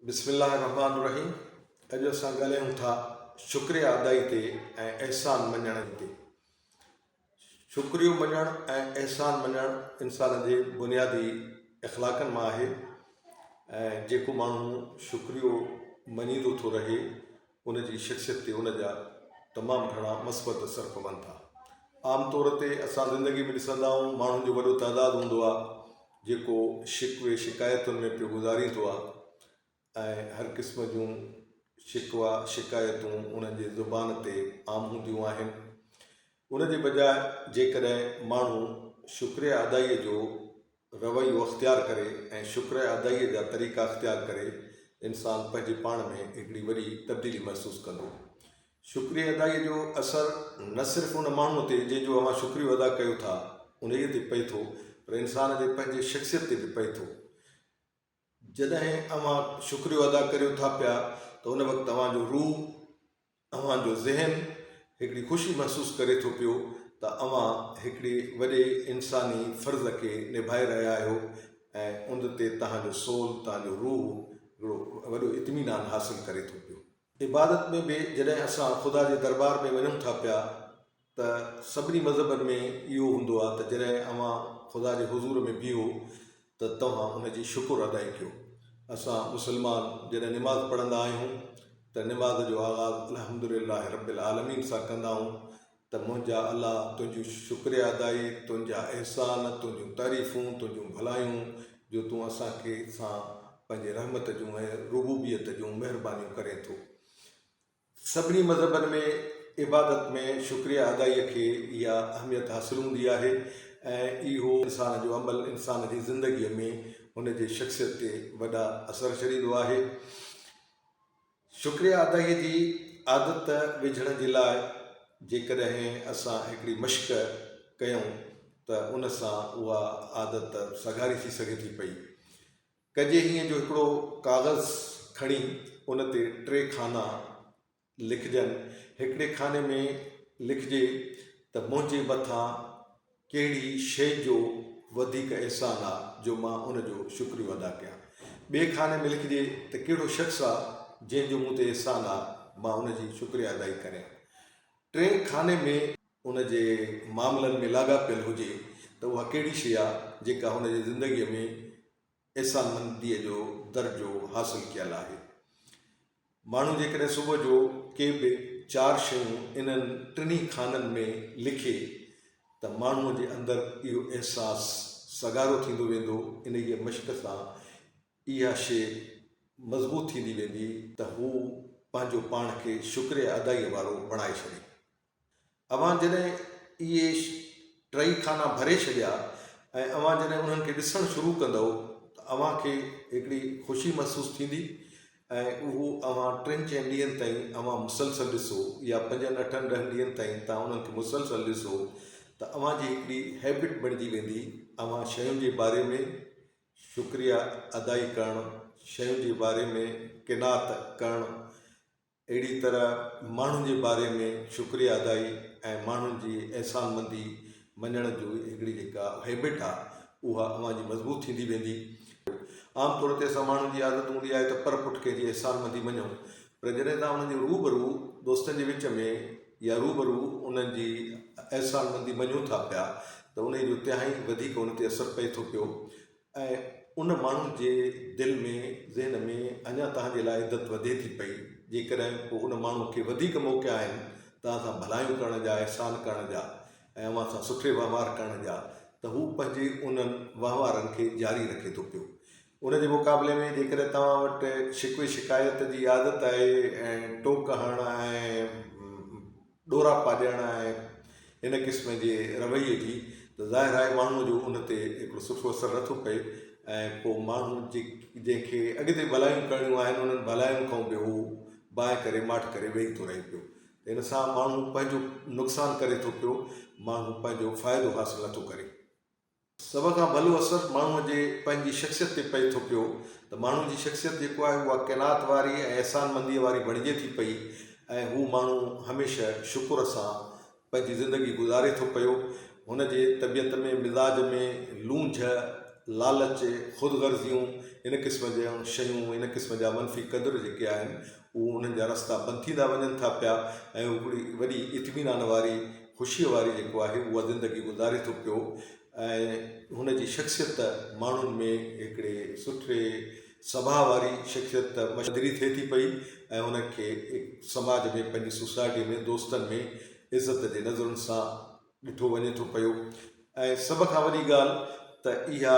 بسم الله الرحمٰن الرحيم اڄ اسان ڳالهايون ٿا شڪريه ادائي تي ۽ احسان مڃڻ تي شڪريو مڃڻ ۽ احسان مڃڻ انسان جي بنيادي اخلاقن مان آهي ۽ جيڪو ماڻهو شڪريو مڃيندو ٿو رهي ان جي شخصيت تي ان جا تمام گهڻا مثبت اثر پون ٿا. عام طور تي اسان زندگي ۾ ڏسندا آهيون ماڻهن جو وڏو تعداد هوندو آهي جيڪو شڪوي شڪايتن ۾ پيو گذاريندو آهي ۽ هر قسم جون شڪوا شڪايتون انهن جي زبان تي عام هونديون آهن ان جي بجاء جيڪڏهن ماڻهو شڪريه ادائيء جو رويو اختيار ڪري ۽ شڪر ادائيء جا طريقا اختيار ڪري، انسان پنهنجي پاڻ ۾ هڪڙي وڏي تبديلي محسوس ڪندو. شڪري ادائيء جو اثر نه صرف ان ماڻهوء تي جنهن جو اوهان شڪريو ادا ڪيو ٿا، انهيء تي پئي ٿو، پر انسان جي پنهنجي شخصيت تي به پئي ٿو. جڏهن اوهان شڪريو ادا ڪريو ٿا پيا ته ان وقت اوهان جو روح، اوهان جو ذهن هڪڙي خوشي محسوس ڪري ٿو پيو ته اوهان هڪڙي وڏي انساني فرض کي نڀائي رهيا آهيو ۽ ان تي توهان جو سول، توهان جو روح هڪڙو وڏو اطمينان حاصل ڪري ٿو پيو. عبادت ۾ به جڏهن اسان خدا جي دربار ۾ وڃون ٿا پيا ته سڀني مذهبن ۾ اهو هوندو آهي ته جڏهن اوهان خدا جي حضور ۾ بيهو ته توهان ان جي شڪر ادائي ڪيو. اسان مسلمان جڏهن نماز پڙهندا آهيون ته نماز جو آغاز الحمد لله رب العالمين سان ڪندا آهيون ته منهنجا الله تنهنجون شڪريه ادائي، تنهنجا احسان، تنهنجون تعريفون، تنهنجون ڀلايون جو تون اسان کي سان پنهنجي رحمت جون ۽ ربوبيت جون مهربانيون ڪرين ٿو. سڀني مذهبن ۾ عبادت ۾ شڪريه ادائيء کي اها اهميت حاصل هوندي آهي ۽ اهو انسان جو عمل انسان جي زندگيء ۾ هن جي شخصيت تي وڏا اثر ڇڏيندو آهي. شڪريه ادائيء جي عادت وجهڻ جي لاء جيڪڏهن اسان هڪڙي مشق ڪيون ته ان سان اها عادت سگهاري ٿي سگهي ٿي پئي. ڪجي هيئن جو هڪڙو ڪاغذ کڻي ان تي ٽي خانا لکجن، هڪڙي خاني ۾ لکجي ته منهنجي مٿان ڪهڙي شيء جو وڌيڪ احسان آ جو مان ان جو شڪريو ادا ڪيان، ٻئي خاني ۾ لکجي ته ڪهڙو شخص آ جنهن جو مون تي احسان آ مان ان جي شڪريا ادائي ڪريان، ٽئين خاني ۾. ان جي معاملن ۾ لاڳاپيل هجي ته اها ڪهڙي شيء آ جيڪا هن جي زندگيء ۾ احسانمنديء جو درجو حاصل ڪيل آهي. ماڻهو جيڪڏهن صبح جو ڪي به چار شيون انهن ٽنهي خانن ۾ لکي ته ماڻهوء جي اندر اهو احساس سگهارو ٿيندو ويندو، انهيء مشق سان اها شيء مضبوط ٿيندي ويندي ته هو پنهنجو پاڻ کي شڪريه ادائيء وارو بڻائي ڇڏي. اوهان جڏهن اهي ٽئي خانا ڀري ڇڏيا ۽ اوهان جڏهن انهن کي ڏسڻ شروع ڪندئو ته اوهان کي هڪڙي خوشي محسوس ٿيندي ۽ اهو اوهان ٽن چئن ڏينهن تائين اوهان مسلسل ڏسو يا پنجن اٺن ڏهن ڏينهن تائين توهان انهن کي مسلسل ڏسو ته اوهان جي هڪڙي هيبٽ بڻجي ويندي اوهان شين جي باري ۾ شڪريا ادائي ڪرڻ شين جي باري ۾ قناعت ڪرڻ اهڙي طرح ماڻهن جي باري ۾ شڪريه ادائي ۽ ماڻهن جي احسان مندي مڃڻ جو هڪڙي جيڪا هيبٽ آ اها اوهان جي مضبوط ٿيندي ويندي. عام طور تي اسان ماڻهن جي عادت هوندي آهي ته پر پٺ ڪنهن جي احسان مندي مڃون پر جڏهن توهان انهن جي روبرو دوستن جي وچ ۾ يا روبرو انهن جي احسان مندي مڃون ٿا پيا ته انهي جو تهائين وڌيڪ ان تي اثر پئي ٿو پيو ۽ ان ماڻهو جي دل ۾ ذهن ۾ اڃا توهان جي لاء عزت وڌي ٿي پئي جيڪڏهن پوء ان ماڻهو کي وڌيڪ موقعا آهن توهان سان ڀلايون ڪرڻ جا احسان ڪرڻ جا ۽ اوهان سان سٺي وهنوار ڪرڻ جا ته هو پنهنجي انهن وهنوارن کي جاري رکي ٿو پيو ان جي مقابلي ۾ جيڪڏهن توهان وٽ شڪوي شڪايت جي عادت آهي ۽ ٽوڪ هڻڻ ۽ ڏورا پاڄائڻ ۽ ان قسم جي رويي جي ته ظاهر آهي ماڻهوء جو ان تي هڪڙو سٺو اثر نه ٿو پئي ۽ پوء ماڻهو جنهن کي اڳتي ڀلايون ڪرڻيون آهن انهن ڀلاين کان به هو باهه ڪري ماٺ ڪري ويهي ٿو رهي پيو ته ان سان ماڻهو پنهنجو نقصان ڪري ٿو پيو ماڻهو پنهنجو فائدو حاصل نه ٿو ڪري. سڀ کان ڀلو اثر ماڻهوء جي پنهنجي شخصيت تي پئي ٿو پيو ته ماڻهوء جي شخصيت جيڪو آهي اها قناعت واري ۽ احسان منديء واري بڻجي ٿي پئي ۽ هو ماڻهو هميشه شڪر سان پنهنجي زندگي گذاري ٿو پيو هن جي طبيعت ۾ مزاج ۾ لونجهه لالچ خود غرضيون ان قسم جون شيون ان قسم جا منفي قدر جيڪي آهن اهو انهن جا رستا بند ٿيندا وڃن ٿا پيا ۽ هو هڪڙي وڏي اطمينان واري خوشيء واري جيڪو آهي اها زندگي گذاري ٿو پيو ۽ هن جي شخصيت ته ماڻهن ۾ هڪڙي سٺي سڀاء واري شخصيت ته مشهدري ٿئي ٿي پئي ۽ هن کي سماج ۾ پنهنجي سوسائٽي ۾ دوستن ۾ عزت جي نظرن سان ڏٺو وڃي ٿو پيو ۽ سڀ کان وڏي ڳالهه ته اها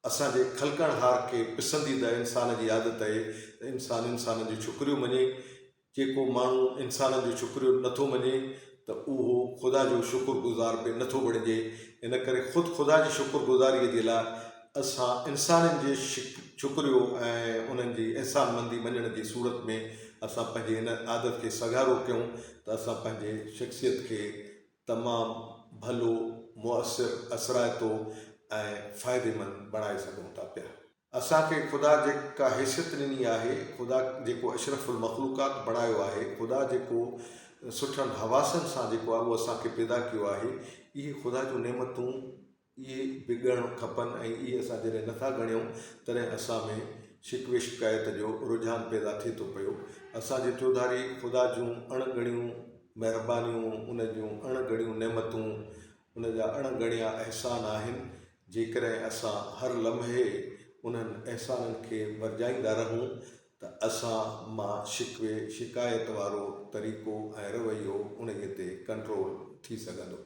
اسان جي خلقڻهار کي پسنديده انسان جي عادت اهي ته انسان انسانن جو ڇڪريو مڃي، جيڪو ماڻهو انسانن جو ڇڪريو نه ٿو مڃي ته اهو خدا جو شڪر گذار به نه ٿو بڻجي، ان ڪري خود خدا جي شڪر گذاريء جي لاء اسان انسانن جي ڇڪريو ۽ انهن جي احسان مندي مڃڻ جي صورت ۾ اسان پنهنجي ان عادت کي سگهارو ڪيون ته اسان پنهنجي شخصيت کي تمام ڀلو، مؤثر، اثرائتو ۽ فائديمند بڻائي سگهون ٿا پيا. اسان کي خدا جيڪا حيثيت ڏني آهي، خدا جيڪو اشرف المخلوقات بڻايو آهي، خدا جيڪو سٺن حواسن سان جيڪو اهو اسان کي پيدا ڪيو آهي، اهي خدا جون نعمتون اهي به ڳڻڻ کپن ۽ اهي اسان جڏهن نٿا ڳڻيون تڏهن اسان ۾ شڪ وشڪايت جو رجحان پيدا ٿئي ٿو پيو. اسان جي چوڌاري خدا جون اڻ ڳڻيون مهربانيون، ان جون اڻ ڳڻيون نعمتون، ان جا اڻ ڳڻيا احسان آهن. جيڪڏهن اسان هر لمحي انهن احسانن کي ورجائيندا رهون ته اسان مان شڪوي شڪايت وارو طريقو ۽ رويو انهي تي ڪنٽرول ٿي سگهندو.